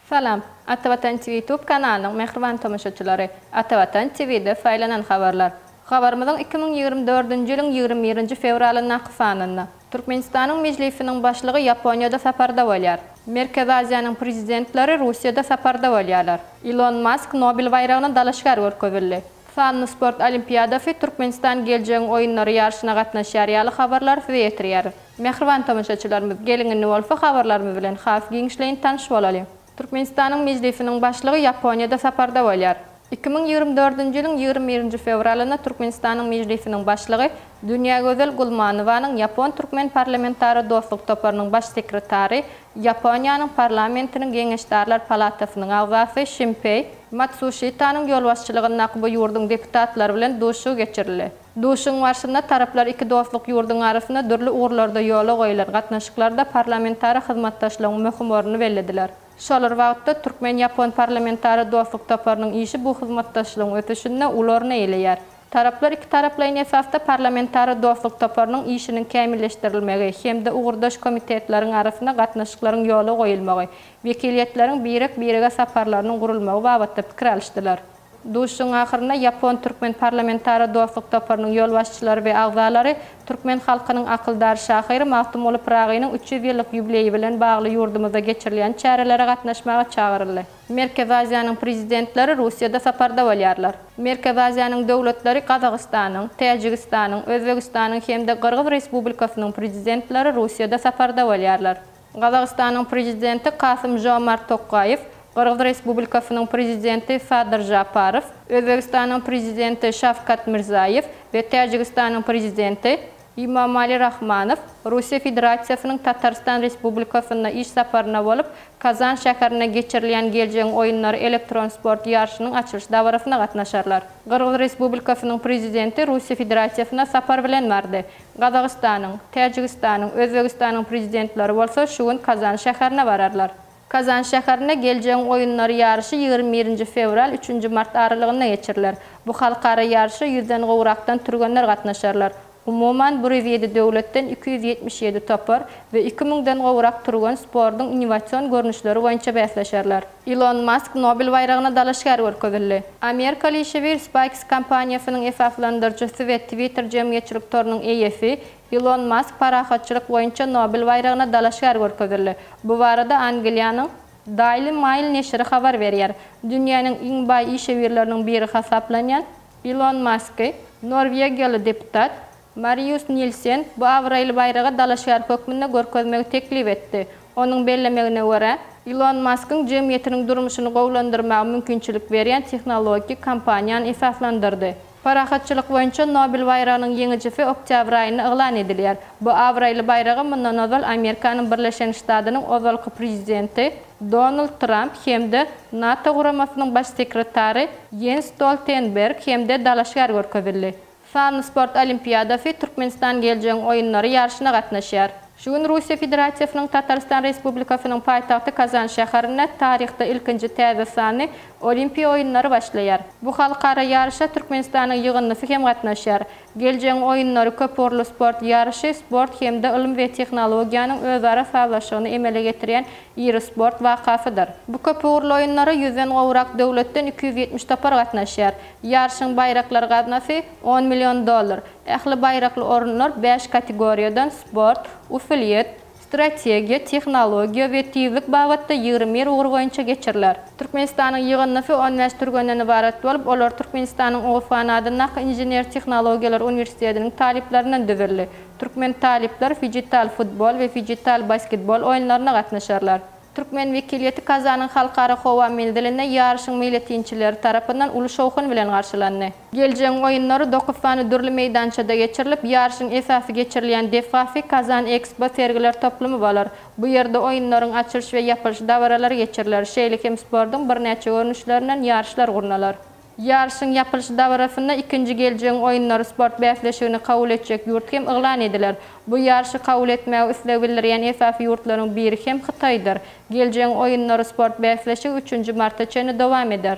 Salam. Ata Watan TV YouTube kanalynyň mähriban tomaşaçylary. Ata Watan TV-de saýlanan habarlar. Habarymyzyň iki müň ýigrimi dördünji ýylyň ýigrimi birinji fewralyndaky sanynda. Türkmenistanyň Mejlisiniň Başlygy Ýaponiýada saparda bolýar. Merkezi Aziýanyň prezidentleri Russiýada saparda bolýarlar. Ilon Mask Nobel baýragyna dalaşgär görkezildi. Sanly sport olimpiadasy, Türkmenistan geljegiň oýunlary ýaryşyna gatnaşýar ýaly habarlary size ýetirýäris. Mähriban tomaşaçylarymyz, geliň indi bolsa habarlarymyz bilen has giňişleýin tanyş bolalyň. Türkmenistanyň Mejlisiniň Başlygy Ýaponiýada saparda bolýar. Iki müň ýigrimi dördünji ýylyň ýigrimi birinji fewralynda Türkmenistanyň Mejlisiniň Başlygy Dünýägözel Gulmanowanyň ýapon-türkmen parlamentara dostluk toparynyň Baş sekretary Ýaponiýanyň parlamentiniň Geňeşdarlar palatasynyň agzasy Şimpeý. Matsuşitanyň ýolbaşçylygyndaky bu ýurduň deputatlary bilen duşuşygy geçirildi. Duşuşygyň barşynda taraplar iki dostluk ýurduň arasynda dürli ugurlarda ýola goýlan gatnaşyklarda parlamentara hyzmatdaşlygyň möhüm ornuny bellediler. Şol bir wagtda, türkmen-ýapon parlamentara dostluk toparynyň işi bu hyzmatdaşlygyň ösüşinde uly orun eýeleýär. Taraplar ikitaraplaýyn esasda Parlamentara dostluk toparynyň işiniň kämilleşdirilmegi hem-de ugurdaş komitetleriň arasynda gatnaşyklaryň ýola goýulmagy, wekiliýetleriň birek-birege saparlarynyň gurulmagy babatda pikir alyşdylar. Duşuşygyň ahyrynda ýapon-türkmen Parlamentara dostluk toparynyň ýolbaşçylary we agzalary türkmen halkynyň akyldar şahyry Magtymguly Pyragynyň üç ýüz ýyllyk ýubileýi bilen bagly ýurdumyzda geçirilýän çärelere gatnaşmaga çagyryldy. Merkezi Aziýanyň Prezidentleri Russiýada saparda bolýarlar. Merkezi Aziýanyň döwletleri Gazagystanyň, Täjigistanyň, Özbegistanyň hem-de Gyrgyz Respublikasynyň Prezidentleri Russiýada saparda bolýarlar. Gazagystanyň Prezidenti Kasym-Žomart Tokaýew, Gyrgyz Respublikasynyň Prezidenti Sadyr Žaparow, Özbegistanyň Prezidenti Şawkat Mirzaýew we Täjigistanyň Prezidenti Imamali Rahmanow Russiýa Federasiýasynyň Tatarystan Respublikasynda iş saparynda bolup, Kazan şäherinde geçirilýän Geljegiň oýunlary elektron sport ýaryşynyň açylyş dabarasyna gatnaşarlar. Gyrgyz Respublikasynyň Prezidenti Russiýa Federasiýasyna sapar bilen bardy. Gazagystanyň, Täjigistanyň, Özbegistanyň Prezidentleri bolsa şu gün Kazan şäherine bararlar. Kazan şäherinde Geljegiň oýunlary ýaryşy ýigrimi birinji fewral, üçünji mart aralygynda geçiriler. Bu halkara ýaryşa ýüzden gowrakdan türgenler gatnaşarlar. Umuman, bir ýüz ýedi döwletden iki ýüz ýetmiş ýedi topar we iki müňden gowrak türgen sportuň innowasion görnüşleri boýunça bäsleşerler. Ilon Mask Nobel baýragyna dalaşgär görkezildi. Amerikaly işewür SpaceX kompaniýasynyň esaslandyryjysy we Twitter jemgyýetçilik torunyň eýesi Ilon Mask parahatçylyk boýunça Nobel baýragyna dalaşgär görkezildi. Bu barada Angliýanyň Daily Mail neşiri habar berýär. Dünýäniň iň baý işewürleriniň biri hasaplanýan Ilon Masky norwegiýaly deputat Marius Nilsen bu abraýly baýraga dalaşgär hökmünde görkezmegi teklip etdi. Onuň bellemegine görä, Ilon Maskyň jemgyýetiniň durmuşyny gowulandyrmaga mümkinçilik berýän tehnologiki kampaniýany esaslandyrdy. Parahatçylyk boýunça Nobel baýragynyň ýeňijisi oktýabr aýynda yglan edilýär. Bu abraýly baýraga mundan ozal Amerikanyň Birleşen Ştadynyň ozalky prezidenti Donald Tramp hem-de NATO guramasynyň baş sekretary Ýens Stoltenberg hem-de dalaşgär görkezildi. Sanly sport olimpiadasy Türkmenistan geljegiň oýunlary ýaryşyna gatnaşýar. Şu gün Russiýa Federasiýasynyň Tatarystan Respublikasynyň paýtagty Kazan şäherinde taryhda ilkinji täze sanly Olimpiýa oýunlary başlaýar. Bu halkara ýaryşa Türkmenistanyň ýygyndysy hem gatnaşýar. Geljegiň oýunlary köpugurly sport ýaryşy, sport hem-de ylym we tehnologiýanyň özara sazlaşygyny emele getirýän iri sport wakasydyr. Bu köpugurly oýunlara ýüzden gowrak döwletden iki ýüz ýetmiş topar gatnaşýar. Ýaryşyň baýraklar gaznasy, on million dollar. Ähli baýrakly orunlar bäş kategoriýadan, sport, usulyýet, strategiýa, tehnologiýa we tizlik babatda ýigrimi bir ugur boýunça geçiriler. Türkmenistanyň ýygyndysy on bäş türgenden ybarat bolup, olar Türkmenistanyň OFAN adyndaky Inžener-tehnologiýalar uniwersitetiniň talyplaryndan düzüldi. Türkmen talyplar fijital futbol we fijital basketbol oýunlaryna gatnaşarlar. Türkmen wekiliýeti Kazanyň halkara howa menzilinde ýaryşyň meýletinçileri tarapyndan uly şowhun bilen garşylandy. Geljegiň oýunlary dokuz sany dürli meýdançada geçirilip, ýaryşyň esasy geçirilýän desgasy Kazan Ekspo sergiler toplumy bolar. Bu ýerde oýunlaryň açylyş we ýapylyş dabaralary geçiriler, şeýle hem sportuň birnäçe görnüşlerinden ýaryşlar gurnalar. Ýaryşyň ýapylyş dabarasynda ikinji Geljegiň oýunlary sport bäsleşigini kabul etjek ýurt hem yglan ediler. Bu ýaryşy kabul etmäge isleg bildirýän esasy ýurtlaryň biri hem Hytaýdyr. Geljegiň oýunlary sport bäsleşigi üçünji marta çenli dowam eder.